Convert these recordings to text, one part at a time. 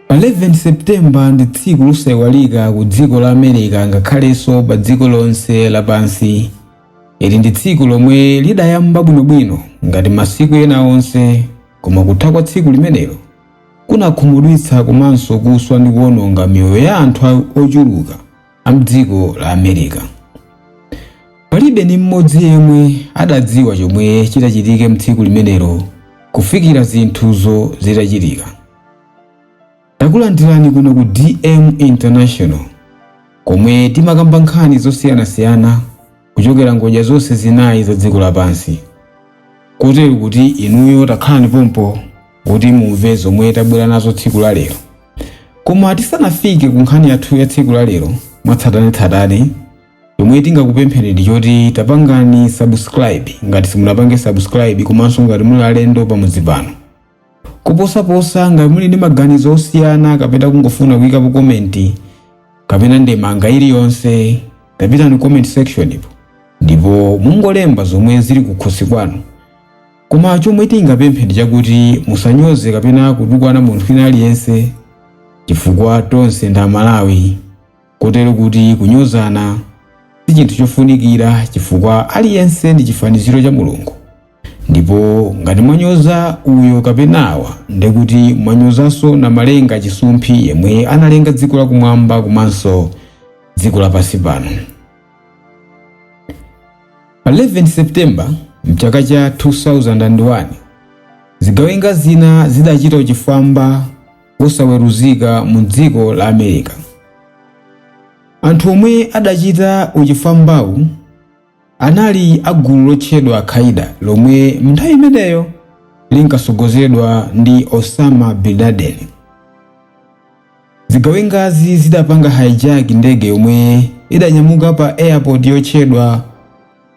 Pa 11 September ndi tsiku losaiwalika ku dziko la America ngakhalenso pa dziko lonse lapansi. Ili ndi tsiku lomwe lidayamba bwinobwino ngati masiku ena onse, koma kutha kwa tsiku limenelo kunakhumudwitsa komanso kuswa ndi kuwononga miyoyo ya anthu ochuluka. a m'dziko la America. Palibe ndi mmodzi yemwe adadziwa chomwe chitachitike mtsiku limenelo kufikira zinthuzo zitachitika. Takulandirani kuno ku DM International komwe timakamba nkhani zosiyanasiyana kuchokera ngodya zonse zinayi za dziko lapansi kotero kuti inuyo takhalani pompo kuti mumve zomwe tabwera nazo tsiku la lero koma tisanafike ku nkhani yathu ya tsiku la lero mwatsatanetsatane chomwe tingakupempheni ndi choti tapangani subscribe ngati simunapange subscribe komanso ngati muli alendo pamudzi pano Kuposaposa, ngati muli ndi maganizo osiyana kapena kungofuna kuyikapo komenti kapena ndemanga iliyonse, tapitani comment section po ndipo mungolemba zomwe zili kukhosi kwanu. Koma chomwe tingapemphe ndi chakuti musanyoze kapena kutukwana munthu wina aliyense chifukwa tonse ndi Amalawi. Kotero kuti kunyozana si chinthu chofunikira chifukwa aliyense ndi chifaniziro cha Mulungu. Ndipo ngati mwanyoza uyo kapena awa nde kuti mwanyozanso Namalenga chisumphi yemwe analenga dziko la kumwamba komanso dziko lapansi pano. Pa 11 September mchaka cha 2001, zigawenga zina zidachita uchifwamba wosaweruzika mu dziko la America. Anthu omwe adachita uchifwambawu anali a gulu lotchedwa Al-Qaeda lomwe m'nthawi imeneyo linkatsogozedwa ndi Osama bin Laden. Zigawengazi zidapanga hijack ndege yomwe idanyamuka pa airport yotchedwa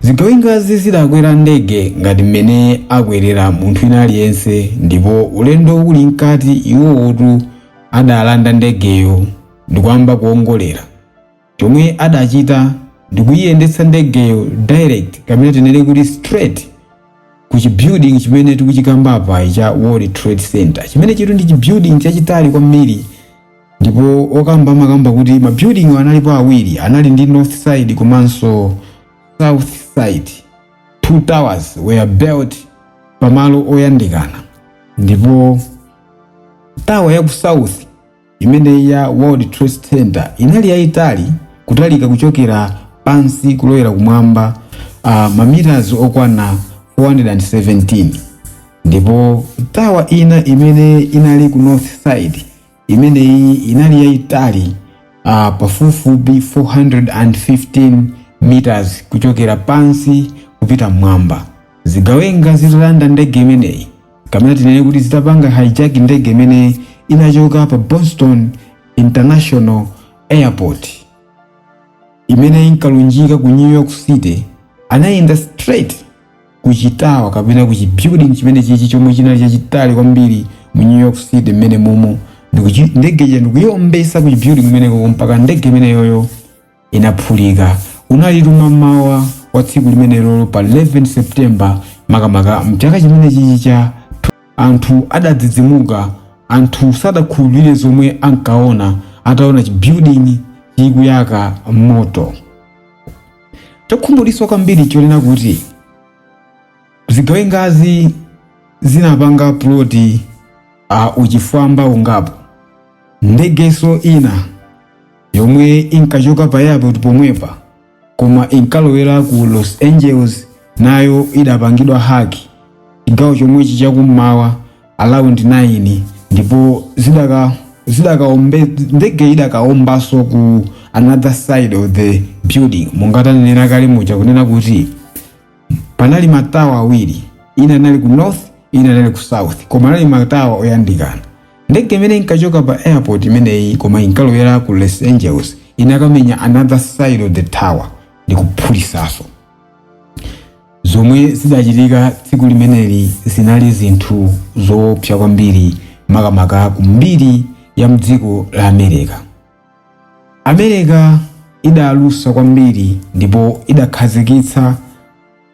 zigawengazi zidakwera ndege ngati mmene akwerera munthu wina aliyense ndipo ulendo uli mkati iwowotu adalanda ndegeyo ndikuyamba kuongolera chomwe adachita ndikuyiyendetsa ndegeyo direct kapena tinene kuti straight ku chibuilding chimene tikuchikamba apachi cha world trade center chimenechitu ndi chibuilding chachitali kwambiri Ndipo okamba amakamba kuti ma building wa analipo awiri, anali ndi north side komanso south side. Two towers were built pa malo oyandikana. Ndipo tower ya ku south imeneyi ya World Trade Center inali yayitali kutalika kuchokera pansi kulowera kumwamba uh, mameters okwana 417 ndipo tower ina imene inali ku north side imeneyi inali yayitali uh, pafupifupi 415 meters kuchokera pansi kupita mmwamba zigawenga zitalanda ndege imeneyi kapena tinene kuti zitapanga hijack ndege imene inachoka pa boston international airport imeneyi inkalunjika ku new york city anayenda straight ku chitawa kapena ku chibuilding chimenechichi chomwe chinali chachitali kwambiri mu new york city mmenemumu ndikuchi- ndege ija ndikuiombetsa ku chibuilding kumeneko mpaka ndege imeneyoyo inaphulika unali kum'mawa kwa tsiku limenelolo pa 11 september makamaka mchaka chimenechichi cha anthu adadzidzimuka anthu sadakhulupirire zomwe ankaona ataona chibuilding chikuyaka moto Chokhumudwitsa kwambiri n'chonena kuti zigawengazi zinapanga puloti ya uchifwamba ungapo. Ndegenso ina yomwe inkachoka pa airport pomwepa koma inkalowera ku Los Angeles nayo idapangidwa haki chigawo chomwechi chakum'mawa around 9 ndipo zidaka zidakaombe ndege idakaombanso ku another side of the building monga tanenera kale muja kunena kuti panali matawa awiri ina inali ku north ina inali ku south koma anali matawa oyandikana ndege imene inkachoka pa airport imeneyi koma inkalowera ku los angeles inakamenya another side of the tower ndikuphulitsaso zomwe zidachitika tsiku limeneli zinali zinthu zoopsa kwambiri makamaka ku mbiri ya mdziko la amerika amerika idalusa kwambiri ndipo idakhazikitsa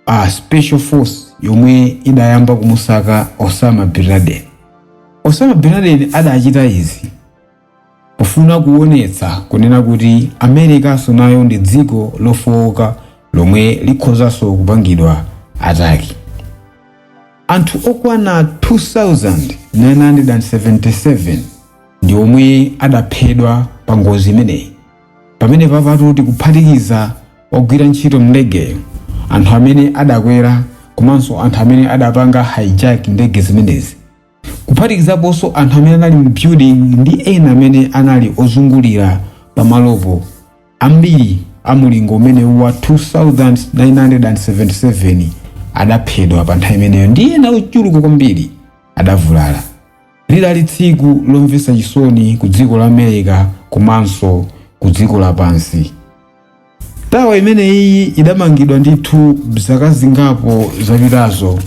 a special force yomwe idayamba kumusaka osama bin laden osama bin laden adachita izi pofuna kuonetsa kunena kuti amerikanso nayo ndi dziko lofowoka lomwe likhozanso kupangidwa ataki anthu okwana 2977 ndi omwe adaphedwa pa ngozi imeneyi pamenepapatu tikuphatikiza ogwira ntchito mndegeyo anthu amene adakwera komanso anthu amene adapanga hijack ndege zimenezi kuphatikizaponso anthu amene anali mu building ndi ena amene anali ozungulira pamalopo ambiri a mulingo umenewu wa 2977 adaphedwa pa nthawi imeneyo ndi ena ochuluka kwambiri adavulala lidali tsiku lomvetsa chisoni ku dziko la america komanso ku dziko lapansi Tawa imeneyi idamangidwa ndithu zaka zingapo zapitazo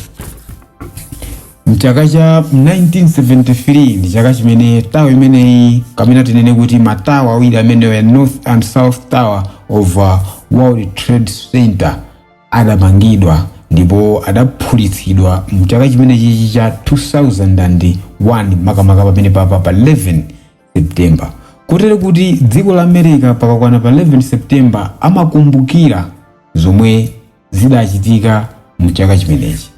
mchaka cha 1973 ndi chaka chimene tawa imeneyi kapena tinene kuti matawa awiri amenewa north and south tower of uh, world trade center adamangidwa ndipo adaphulitsidwa mchaka chimenechichi cha 2001 makamaka pamenepapa pa 11 September. Kotero kuti dziko la America pakakwana pa 11 September amakumbukira zomwe zidachitika mu chaka chimenechi.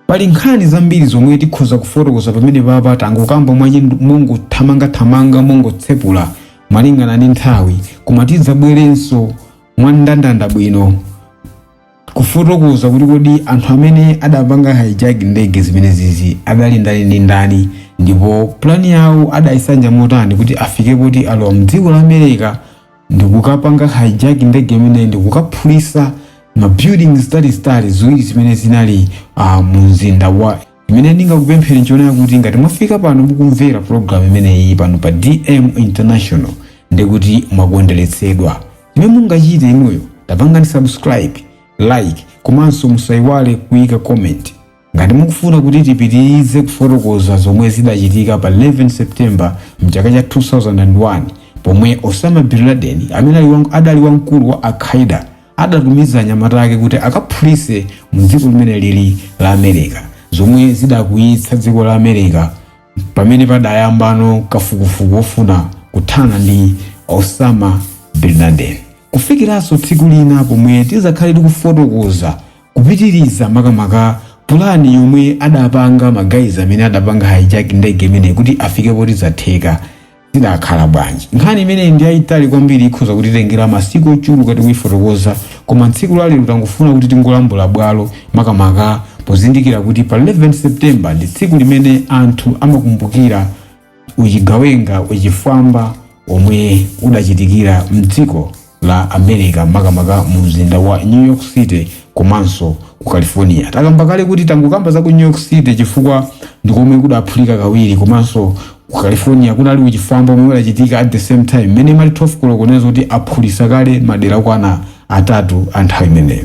Pali nkhani zambiri zomwe tikhoza kufotokoza pamenepapa tangokamba mwache mongothamangathamanga mongotsepula malingana ndi nthawi koma tidzabwerenso mwandandanda bwino Kufotokoza kuti kodi anthu amene adapanga hijack ndege zimenezizi adali ndani ndi ndani ndipo plan yawo adayisanja motani kuti afike poti alowa mdziko la America ndikukapanga hijack ndege imeneyi ndikukaphulisa ma buildings zitalizitali ziwiri zimene zinali uh, mu mzinda wa Chimene ndingakupempheni nchonena kuti ngati mwafika pano mukumvera program imeneyi pano pa DM International ndekuti mwakondweretsedwa. Chimene mungachite inuyo tapangani subscribe, like komanso musaiwale kuika comment. Ngati mukufuna kuti tipitirize kufotokoza zomwe zidachitika pa 11 September mchaka cha 2001 pomwe Osama Bin Laden amene ali wang- adali wamkulu wa Al-Qaeda adatumiza anyamata ake kuti akaphulitse mu dziko limenelili la America zomwe zidakwiyitsa dziko la America pamene padayambano kafukufuku wofuna kuthana ndi Osama bin Laden kufikiranso tsiku lina pomwe tidzakhale tikufotokoza kupitiriza makamaka pulani yomwe adapanga magayizi amene adapanga hijack ndege imeneyi kuti afike poti zatheka zidakhala bwanji? Nkhani imeneyi ndi yaitali kwambiri, ikhoza kutitengera masiku ochuluka tikuifotokoza, koma tsiku la lero tangofuna kuti tingolambula bwalo, makamaka pozindikira kuti pa 11 September ndi tsiku limene anthu amakumbukira uchigawenga, uchifwamba womwe udachitikira m'dziko la America makamaka mu mzinda wa New York City komanso ku California. Takamba kale kuti tangokamba za ku New York City chifukwa ndi komwe kudaphulika kawiri komanso ku California kunali uchifwamba omwe udachitika at the same time mmene imati 12 koloko nazo kuti aphulisa kale madera okwana atatu a nthawi imeneyo.